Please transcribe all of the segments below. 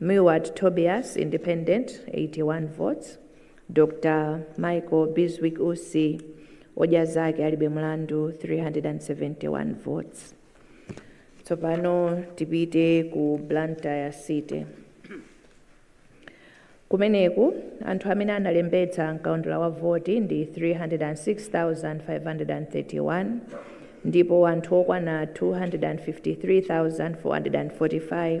Milward Tobias, Independent, 81 votes, Dr Michael Bizwick Usi, odya zake alibe mlandu, 371 votes. Tsopano tipite ku Blantyre City. Kumeneku anthu amene analembetsa mkaundula wa voti ndi 306,531 ndipo anthu okwana 253,445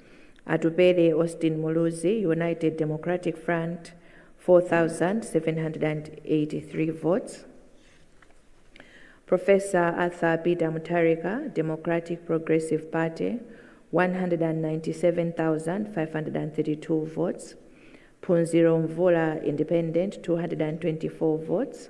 Atupele Austin Muluzi, United Democratic Front, 4,783 votes. Professor Arthur Peter Mutharika, Democratic Progressive Party, 197,532 votes. Phunziro Mvula Independent, 224 votes.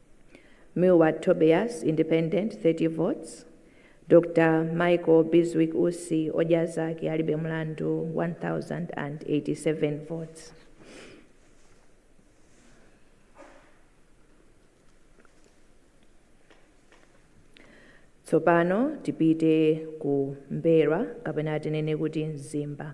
Milward Tobias, Independent, 30 votes, Dr Michael Bizwick Usi, Odya Zake Alibe Mlandu, 1,087 votes. Tsopano tipite ku M'mbelwa kapena tinene kuti Mzimba.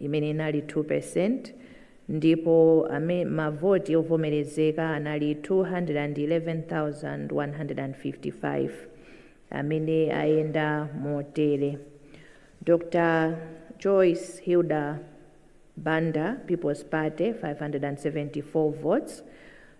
imene inali 2%, ndipo mavoti ovomerezeka anali 211,155, amene ayenda motere, Dr Joyce Hilda Banda People's Party 574 votes,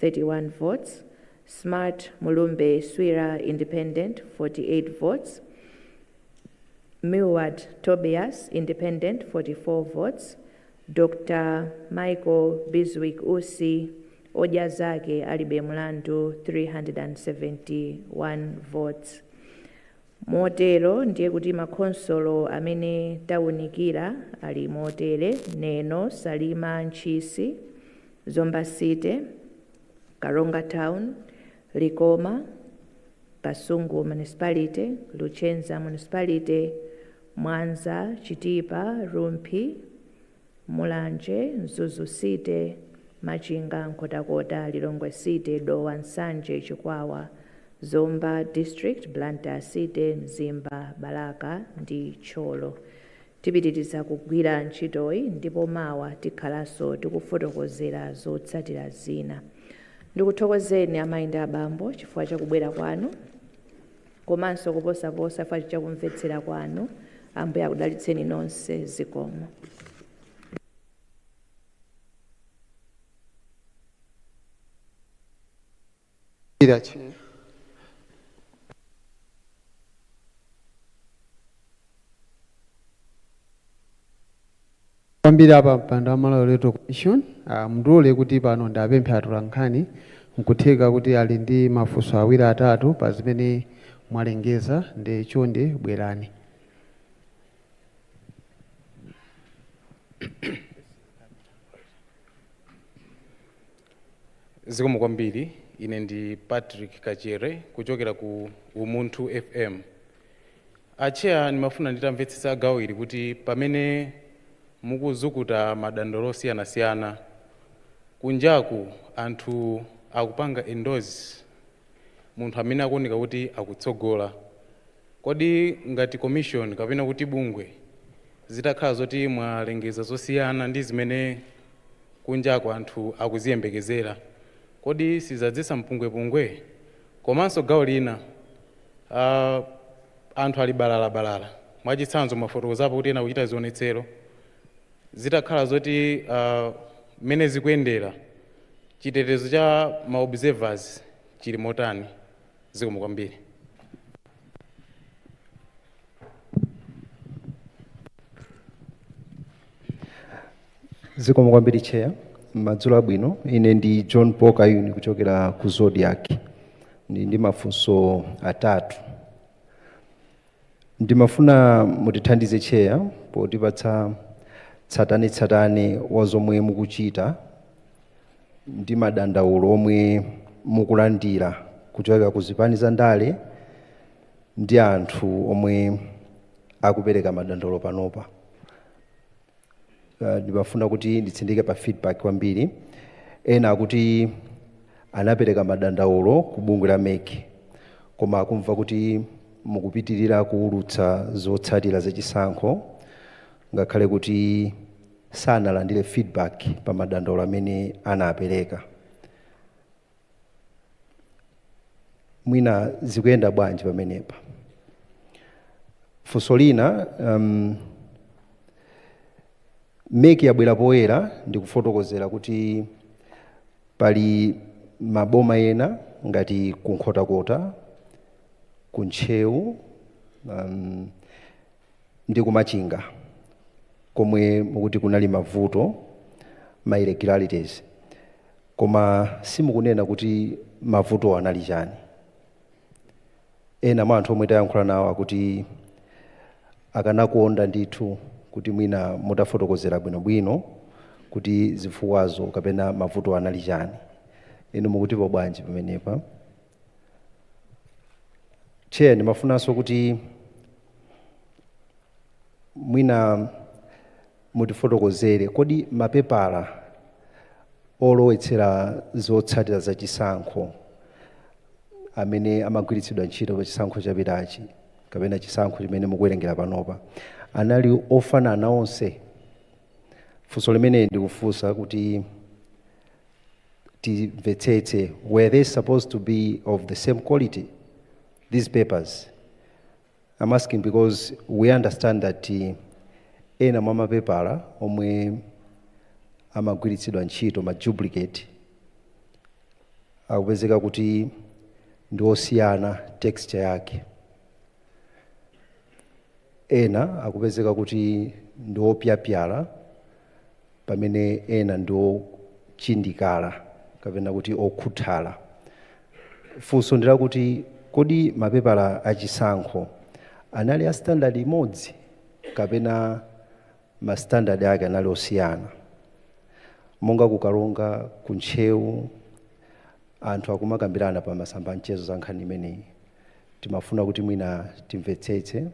31 votes, Smart Mulumbe Swira Independent 48 votes, Milward Tobias Independent 44 votes, Dr Michael Bizwick Usi Odya Zake Alibe Mlandu 371 votes. Motero ndiye kuti makhonsolo amene taunikira ali motere, Neno Salima Ntchisi Zomba City, Karonga Town, Likoma, Kasungu Municipality, Luchenza Municipality, Mwanza, Chitipa, Rumphi, Mulanje, Mzuzu City, Machinga, Nkhotakota, Lilongwe City, Dowa, Nsanje, Chikwawa, Zomba District, Blantyre City, Mzimba, Balaka ndi Thyolo. Tipitiriza kugwira ntchitoyi ndipo mawa tikhalanso tikufotokozera zotsatira zina. Ndikuthokozeni amayi ndi abambo chifukwa cha kubwera kwanu komanso koposaposa chifukwa cha kumvetsera kwanu. Ambuye akudalitseni nonse. Zikomo. kwambiri a pampando wa Malawi Electoral Commission ah, mundilole kuti pano ndiwapemphe atolankhani nkutheka kuti ali ndi mafunso awiri atatu pa zimene mwalengeza ndi chonde bwerani Zikomo kwambiri. Ine ndi Patrick Kachere kuchokera ku Umunthu FM. Atcheya ndimafuna nditamvetsetsa gawo ili kuti pamene mukuzukuta madandaulo osiyanasiyana kunjaku anthu akupanga endorse munthu amene akuoneka kuti akutsogola. Kodi ngati commission kapena kuti bungwe zitakhala zoti mwalengeza zosiyana ndi zimene kunjaku anthu akuziyembekezera kodi sizadzetsa mpungwepungwe? Komanso gawo lina aah anthu ali balala balala mwachitsanzo mwafotokozapo kuti ena akuchita zionetsero zitakhala zoti aah mmene zikuyendera chitetezo cha ma observers chili motani? Zikomo kwambiri. zikomo kwambiri chair madzulo abwino ine ndi john paul kayuni kuchokera ku Zodiak ndi, ndi mafunso atatu ndimafuna mutithandize chair potipatsa tsatanetsatane wa zomwe mukuchita ndi madandaulo omwe mukulandira kuchokera ku zipani za ndale ndi anthu omwe akupereka madandaulo panopa Uh, ndimafuna kuti nditsindike pa feedback kwambiri ena akuti anapereka madandaulo ku bungwe la mec koma akumva kuti mukupitirira kuwulutsa zotsatira zachisankho ngakhale kuti sanalandire feedback pa madandaulo amene anapereka mwina zikuyenda bwanji pamenepa funso lina um, meki yabwera poyera ndikufotokozera kuti pali maboma ena ngati ku nkhotakota ku ntcheu um, ndi ku Machinga komwe mukuti kunali mavuto, ma irregularities, koma simukunena kuti mavutowo anali chani? Ena mwa anthu omwe tayankhula nawo akuti akanakonda ndithu kuti mwina mutafotokozera bwinobwino kuti zifukwazo kapena mavutowo anali chani. Inu mukutipo bwanji pamenepa? chair ndimafunanso kuti mwina mutifotokozere kodi mapepala olowetsera zotsatira za chisankho amene amagwiritsidwa ntchito pa chisankho chapitachi kapena chisankho chimene mukuwerengera panopa anali ofanana onse funso limeneli ndikufunsa kuti timvetsetse were they supposed to be of the same quality these papers i'm asking because we understand that uh, ena mwa mapepala omwe amagwiritsidwa ntchito ma duplicate akupezeka kuti ndi osiyana texture yake ena akupezeka kuti ndi opyapyala pamene ena ndi ochindikala kapena kuti okhuthala. Funso ndi lakuti, kodi mapepala a chisankho anali a standard imodzi kapena ma standard ake anali osiyana? Monga ku Karonga, ku Ntcheu, anthu akumakambirana pa masamba a mchezo za nkhani imeneyi. timafuna kuti mwina timvetsetse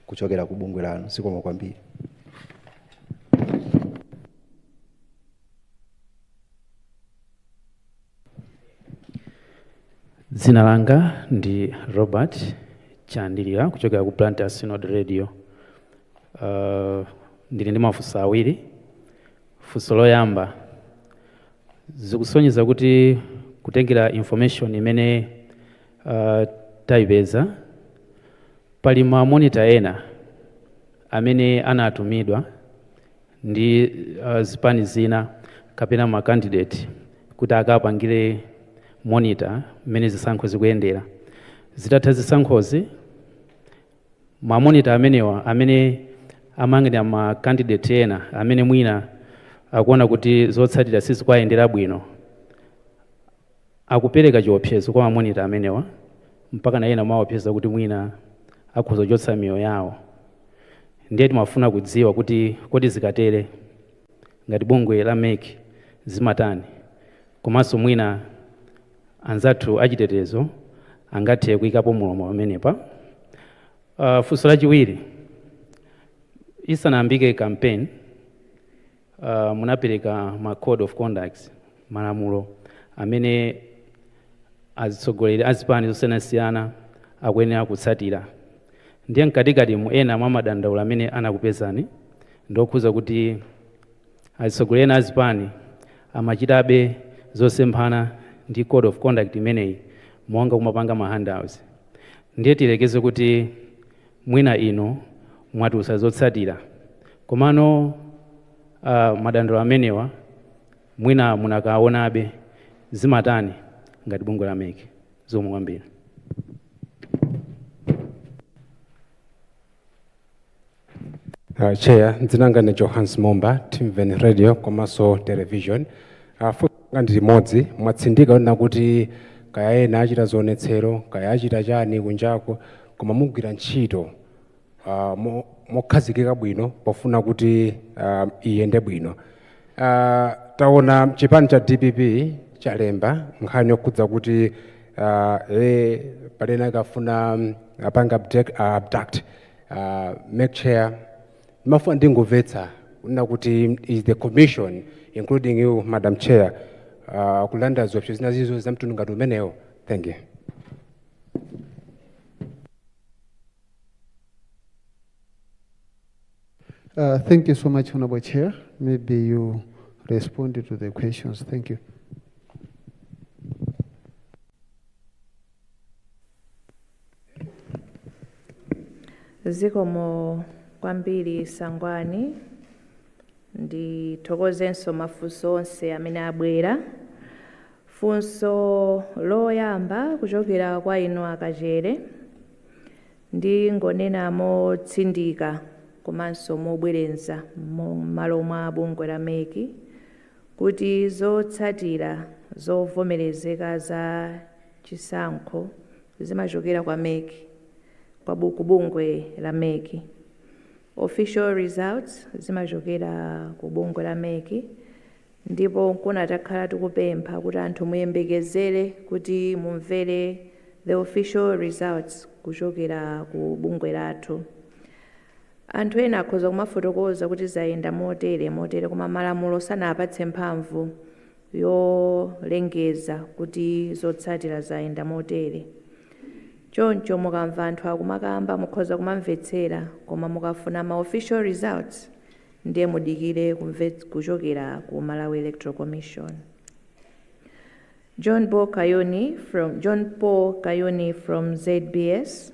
kuchokera ku bungwe lanu zikomo kwambiri dzina langa ndi robert chandilanga kuchokera ku blantyre synod radio uh, ndili ndi mafunso awiri funso loyamba zikusonyeza kuti kutengera information imene Aaa taipeza. Pali ma monitor ena amene anatumidwa ndi aah zipani zina kapena ma candidate kuti akapangire monitor mmene zisankhozi zikuyendera. Zitatha zisankhozi ma monitor amenewa amene amayang'anira ma candidate ena amene mwina akuona kuti zotsatira sizikuwayendera bwino Akupereka chiopsezo kwa ma monitor amenewa mpakana ena amaopseza kuti mwina akhoza kuchotsa miyoyo yawo. Ndiye timafuna kudziwa kuti kodi zikatere ngati bungwe la mec limatani komanso mwina anzathu achitetezo angathe kuikapo mlomo pamenepa. Funso lachiwiri, isanayambike campaign. uh, munapereka ma code of conduct malamulo amene azitsogoleri azipani zosiyanasiyana akuyenera kutsatira ndiye mkatikati mu ena mwa madandaulo amene anakupezani ndi okhudza kuti azitsogoleri ena azipani amachitabe zosemphana ndi code of conduct imeneyi monga kumapanga ma handouts ndiye tiyerekeze kuti mwina inu mwatulutsa zotsatira komano uh, madandaulo amenewa mwina munakaonabe zimatani ngati bungwe la mec zikomo kwambiri Uh, chair dzina langa ndi johans momba timven radio komanso television uh, funso langa ndi limodzi mwatsindika kunena kuti kaya ena achita zionetsero kaya achita chani kunjako koma mugwira ntchito ah, mo- mokhazikika bwino pofuna kuti ah, iyende bwino Ah, taona chipani cha dpp chalemba nkhani yokhudza kuti ah, eh, pali ena akufuna mm, apange abduct, ah, abduct ah, mec chair ndimafuna ndingomvetsa kunena kuti is the commission including you madam chair ah, kulandira ziopsezo zina zilizonse za mtundu ngati umenewo thank you Uh, thank you so much, Honorable Chair. Maybe you responded to the questions. Thank you. zikomo kwambiri sangwani ndithokozenso mafunso onse amene abwera Funso loyamba kuchokera kwa inu a Kachere, ndingonena motsindika komanso mobwereza mmalo mwa bungwe la mec kuti zotsatira zovomerezeka za chisankho zimachokera kwa mec, kwa ku bungwe la mec. Official results zimachokera ku bungwe la mec. Ndipo nkona takhala tikupempha kuti anthu muyembekezere kuti mumvere the official results kuchokera ku bungwe lathu. Anthu ena akhoza kumafotokoza kuti zayenda motere motere koma malamulo sanawapatse mphamvu yolengeza kuti zotsatira zayenda motere. Choncho mukamva anthu akumakamba mukhoza kumamvetsera koma mukafuna ma official results ndiye mudikire kumva kuchokera ku malawi electoral commission. John Paul Kayuni from, John Paul Kayuni from ZBS.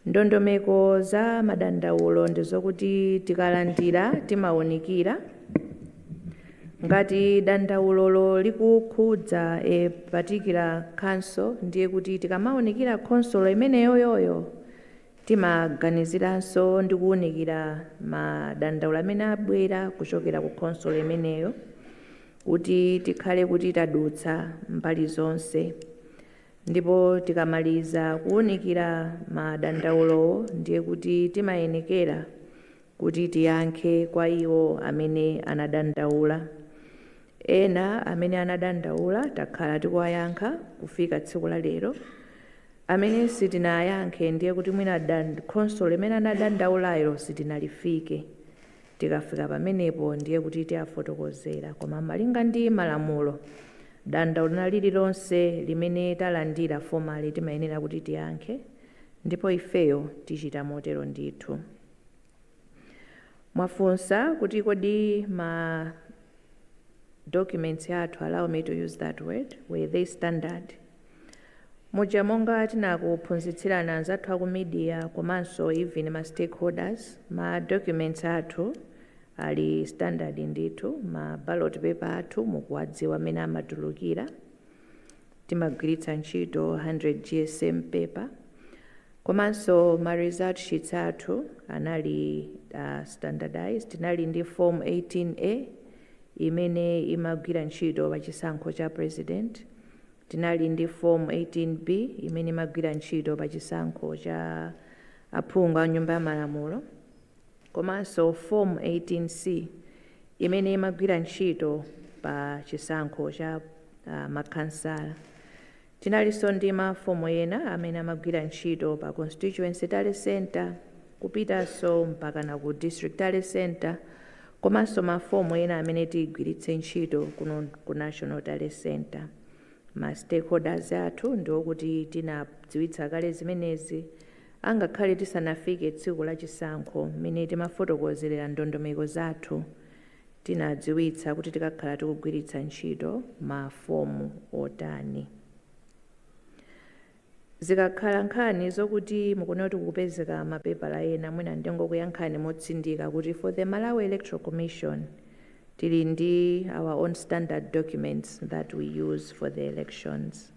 Ndondomeko za madandaulo ndi zokuti tikalandira timawunikira ngati dandaulolo likukhudza a particular council ndiye kuti tikamawunikira khonsolo imeneyoyoyo Timaganiziranso ndi kuunikira madandaulo amene abwera kuchokera ku khonsolo imeneyo kuti tikhale kuti tadutsa mbali zonse ndipo tikamaliza kuunikira madandaulowo ndiye kuti timayenekera kuti tiyankhe kwa iwo amene anadandaula. Ena amene anadandaula takhala tikuwayankha kufika tsiku la lero amene sitinawayankhe ndiye kuti mwina da khonsolo imene anadandaulayo sitinaifike. Tikafika pamenepo ndiye kuti tiwafotokozera koma malinga ndi malamulo dandaulo lina lililonse limene talandira formally timayenera kuti tiyankhe ndipo ifeyo tichita motero ndithu. Mwafunsa kuti kodi ma documents athu, allow me to use that word, were they standard? Muja monga tinakuphunzitsirani anzathu aku media komanso even ma stakeholders, ma documents athu ali standard ndithu, ma ballot paper athu mukuwadziwa mmene amatulukira, timagwiritsa ntchito 100 GSM paper. Komanso ma result sheets athu anali standardized, tinali ndi form 18A imene imagwira ntchito pa chisankho cha president, tinali ndi form 18B imene imagwira ntchito pa chisankho cha aphungu a nyumba ya malamulo komanso form 18C imene imagwira ntchito pa chisankho cha ma khansala. Tinalinso ndi ma fomu ena amene amagwira ntchito pa Constituency Tally Centre kupitanso mpakana ku District Tally Centre komanso ma fomu ena amene tigwiritse ntchito kuno ku National Tally Centre. Ma stakeholders athu ndi okuti tinadziwitsa kale zimenezi angakhale tisanafike tsiku la chisankho mmene timafotokozerera ndondomeko zathu. tinadziwitsa kuti tikakhala tikugwiritsa ntchito ma fomu otani. Zikakhala nkhani zokuti mukuona kuti kukupezeka ma paper ena mwina ndingokuyankhani motsindika kuti for the Malawi Electoral Commission tili ndi our own standard documents that we use for the elections.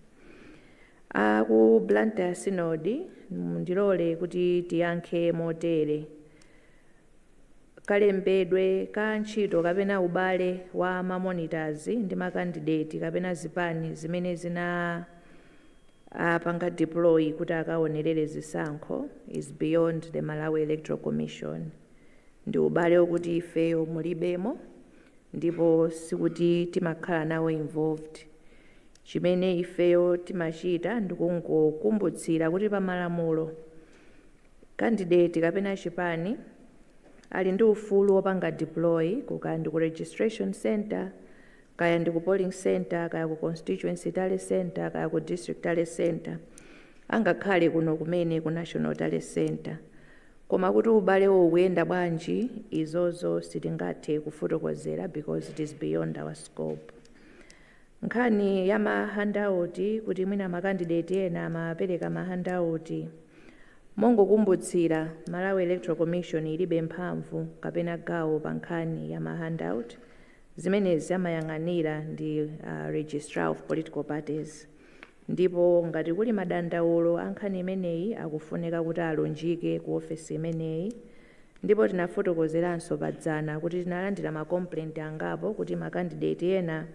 A ku Blantyre Synod ndiloleni kuti tiyankhe motere. kalembedwe ka ntchito kapena ubale wa ma monitors ndi ma kandideti kapena zipani zimene zinawapanga deploy kuti akaonerere zisankho is beyond the Malawi Electoral Commission. Ndi ubale wokuti ifeyo mulibemo ndipo sikuti timakhala nawo involved. Chimene ifeyo timachita ndikungokumbutsira kuti pa malamulo, Kandideti kapena chipani ali ndi ufulu wopanga deploy ku kaya ndi ku registration centre, kaya ndi ku polling centre, kaya ku constituency tally centre, kaya ku district tally centre, angakhale kuno kumene ku national tally centre. Koma kuti ubalewo ukuyenda bwanji, izozo sitingathe kufotokozera because it is beyond our scope. Nkhani ya ma handauti kuti mwina makandideti ena amapereka ma handauti. Mongokumbutsirana, Malawi Electoral Commission ilibe mphamvu kapena gawo pa nkhani ya ma handout, zimenezi amayang'anira ndi a Registrar of Political Parties. Ndipo ngati kuli madandaulo a nkhani imeneyi akufunika kuti alunjike ku ofesi imeneyi. Ndipo tinafotokozeranso pa dzana kuti tinalandira ma complaint angapo kuti ma candidate ena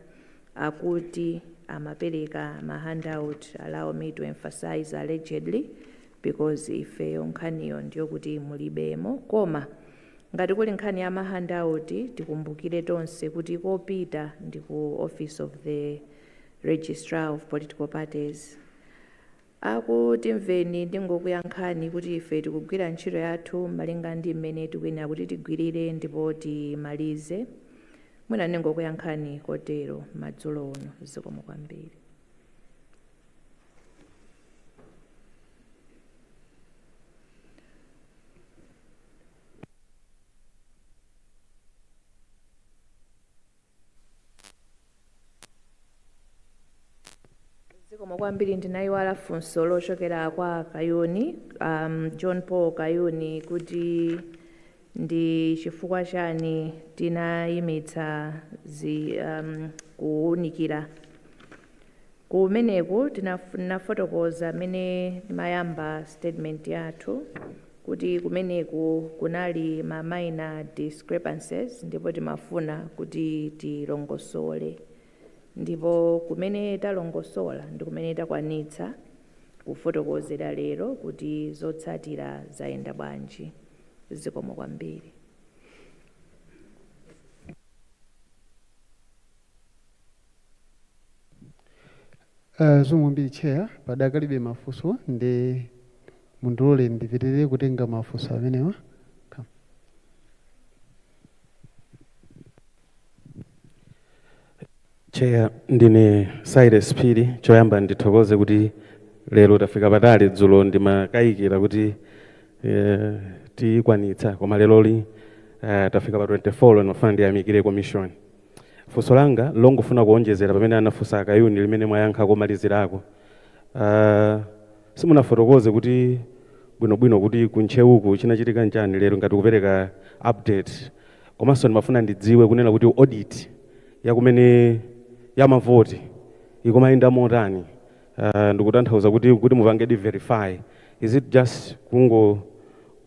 akuti amapereka ma handout, allow me to emphasize allegedly because ifeyo nkhaniyo ndiyokuti tilibemo. Koma ngati kuli nkhani ya ma handout tikumbukire tonse kuti kopita ndi ku office of the registrar of political parties. Aku Timveni ndingokuyankhani kuti ife tikugwira ntchito yathu malinga ndi mmene tikuyenera kuti tigwirire ndipo timalize. Mwina ndingokuyankhani kotero madzulo uno zikomo kwambiri. zikomo kwambiri ndinayiwala funso lochokera kwa kayuni um, john paul kayuni kuti ndi chifukwa chani tinayimitsa zi um, kuwunikira kumeneku tinafotokoza mmene timayamba statement yathu kuti kumeneku kunali ma minor discrepancies ndipo timafuna kuti tilongosole ndipo kumene talongosola ndi kumene takwanitsa kufotokozera lero kuti zotsatira zayenda bwanji. Zikomo kwambiri. Uh, zikomo kwambiri chair padakalibe mafunso ndiye mundilole ndipitirize kutenga mafunso amenewa. Chair, ndine Cyrus Phiri choyamba ndithokoze kuti lero tafika patali dzulo ndimakayikira kuti eh, tikwanitsa koma leroli eh, tafika pa 24 ndiye ndimafuna ndiyamikire commission Funso langa nlongofuna kuonjezera pamene anafunsa a Kayuni limene mwayankha komalizirako. Aaa simunafotokoze kuti bwino bwino kuti ku Ntcheuku chinachitika nchani lero ngati kupereka update komanso ndimafuna ndidziwe kunena kuti audit ya kumene ya mavoti ikumayenda motani aah ndikutanthauza kuti kuti mupangedi verify is it just kungo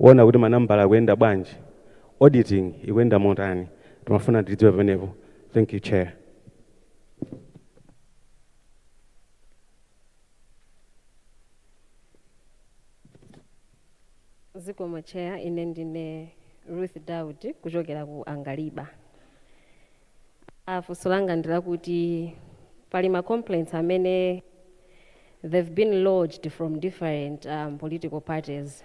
ona kuti manambala akuyenda bwanji auditing ikuyenda motani ndimafuna ndidziwe pamenepo thank you chair. zikomo chair ine ndine ruth daud kuchokera ku angaliba aa funso langa ndilakuti pali ma complaints amene they've been lodged from different um, political parties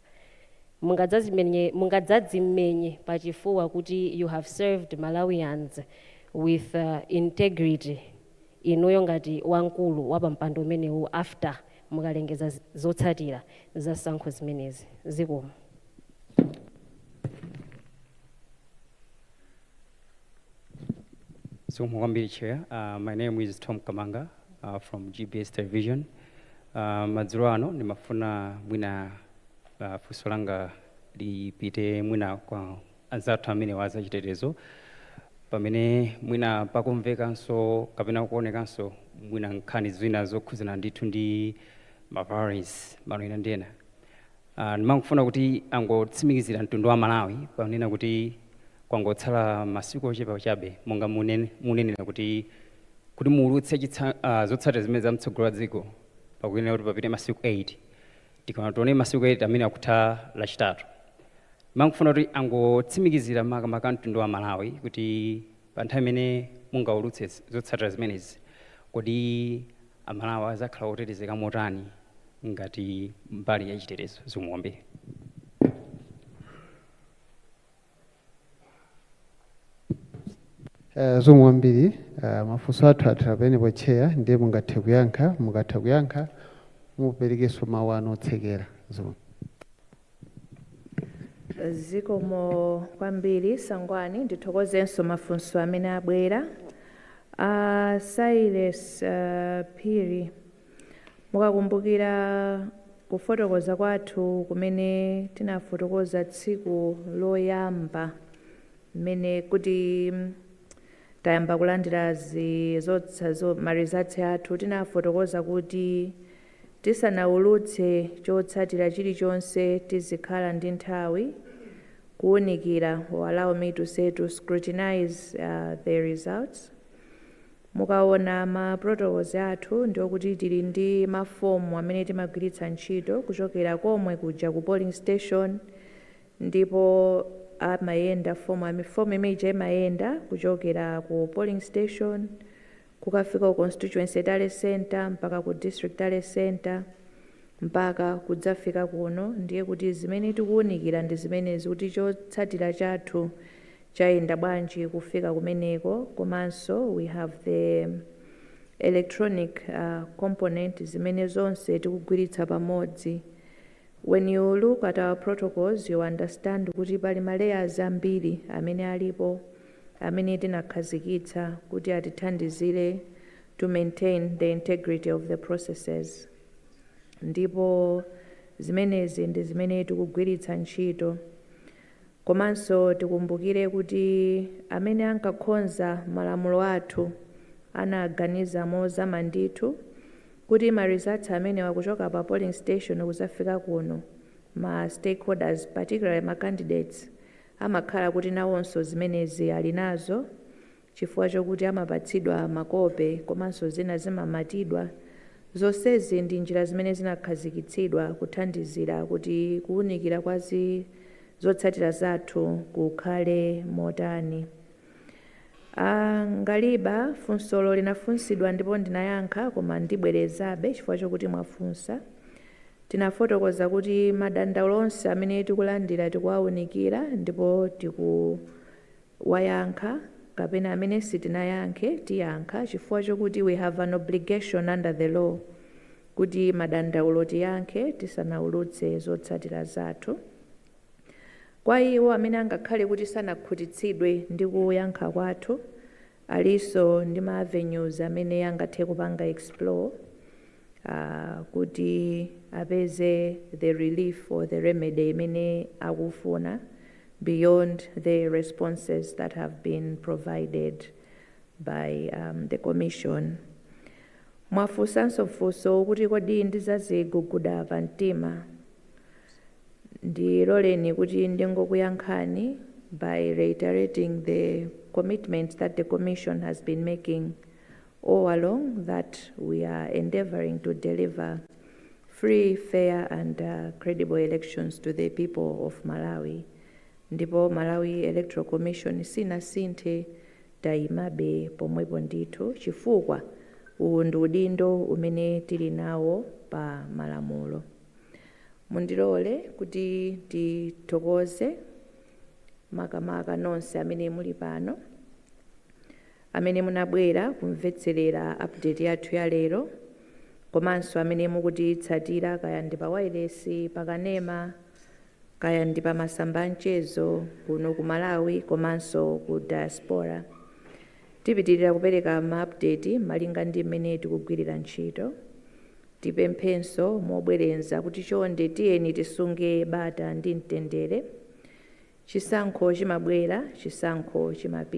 Mungadzadzimenye mungadzadzimenye pachifuwa kuti you have served Malawians with integrity inuyo ngati wamkulu wapampando umenewu after mukalengeza zotsatira za zisankho zimenezi. Zikomo. Zikomo kwambiri chair. Uh, my name is Tom Kamanga uh, from GBS Television. Uh, madzulo ano ndimafuna mwina uh, funso langa lipite mwina kwa anzathu amene a zachitetezo pamene mwina pakumvekanso kapena kuonekanso mwina nkhani zina zokhudzana ndithu ndi maviolence madera ena ndi ena Aaa ndimangofuna kuti angotsimikizira mtundu wa Malawi ponena kuti kwangotsala masiku ochepa chabe monga mwanenera kuti muulutse aah zotsatira zimenezi za mtsogoleri wa dziko pakuyenera kuti papite masiku 8 tikaona tiona masiku 8 amene akutha lachitatu ndimangofuna kuti angotsimikizira makamaka mtundu wa Malawi kuti pa nthawi imene mungaulutse zotsatira zimenezi kodi Amalawi adzakhala otetezeka motani ngati mbali ya chitetezo zikomo kwambiri. Eh, zikomo kwambiri eh, mafunso athu athera pamenepo chair ndiye mungathe kuyankha mukatha kuyankha muperekenso mawu anu otsekera zikomo zikomo kwambiri sangwani ndithokozenso mafunso amene abwera a silas uh, phiri mukakumbukira kufotokoza kwathu kumene tinafotokoza tsiku loyamba mmene kuti mm, tayamba kulandira zi- zotsa- ma results athu tinafotokoza kuti Tisanaulutse chotsatira chilichonse tizikhala ndi nthawi kuunikira or allow me to say to scrutinize the results. Mukaona ma protocols athu ndiokuti tili ndi ma form amene timagwiritsa ntchito kuchokera komwe kuja ku polling station ndipo amayenda form, form imene ija imayenda kuchokera ku polling station kukafika ku constituency tally centre, mpaka ku district tally centre, mpaka kudzafika kuno, ndiye kuti zimene tikuunikira ndi zimenezi kuti chotsatira chathu chayenda bwanji kufika kumeneko, komanso we have the electronic component zimene zonse tikugwiritsa pamodzi. When you look at our protocols, you understand kuti pali ma layers ambiri amene alipo. amene tinakhazikitsa kuti atithandizire to maintain the integrity of the processes ndipo zimenezi ndi zimene tikugwiritsa ntchito komanso tikumbukire kuti amene ankakhonza malamulo athu anaganiza mozama ndithu kuti ma results amenewa kuchoka pa polling station kuzafika kuno ma stakeholders particularly ma candidates amakhala kuti nawonso zimenezi ali nazo chifukwa chokuti amapatsidwa makope komanso zina zimamatidwa. Zonsezi ndi njira zimene zinakhazikitsidwa kuthandizira kuti kuunikira kwa zotsatira zathu kukhale motani. A Ngaliba, Funsolo linafunsidwa ndipo ndinayankha koma ndibwerezabe chifukwa chokuti mwafunsa. Tinafotokoza kuti madandaulo onse amene tikulandira tikuwaunikira ndipo tikuwayankha kapena amene sitinayankhe tiyankha chifukwa chokuti we have an obligation under the law kuti madandaulo tiyankhe tisanaulutse zotsatira zathu. Kwa iwo amene angakhale kuti sanakhutitsidwe ndi kuyankha kwathu, Alinso ndi ma avenues amene angathe kupanga explore kuti apeze the relief or the remedy imene akufuna beyond the responses that have been provided by the Commission. Mwafunsanso funso kuti kodi ndizaziguguda pamtima? Ndiloleni kuti ndingokuyankhani by reiterating the commitment that the Commission has been making all along that we are endeavouring to deliver free, fair and credible elections to the people of Malawi ndipo Malawi Electoral Commission sinasinthe, tayimabe pomwepo ndithu chifukwa uwu ndi udindo umene tili nawo pa malamulo. Mundilole kuti ndithokoze makamaka nonse amene muli pano, amene munabwera kumvetserera update yathu ya lero, komanso amene mukutitsatira kaya ndi pa wailesi, pa kanema, kaya ndi pa masamba a mchezo kuno ku Malawi komanso ku diaspora. Tipitilira kupereka ma update malinga ndi mmene tikugwilira ntchito. Tipemphenso mobwereza kuti chonde tiyeni tisunge bata ndi mtendere. Chisankho chimabwera, chisankho chimapita.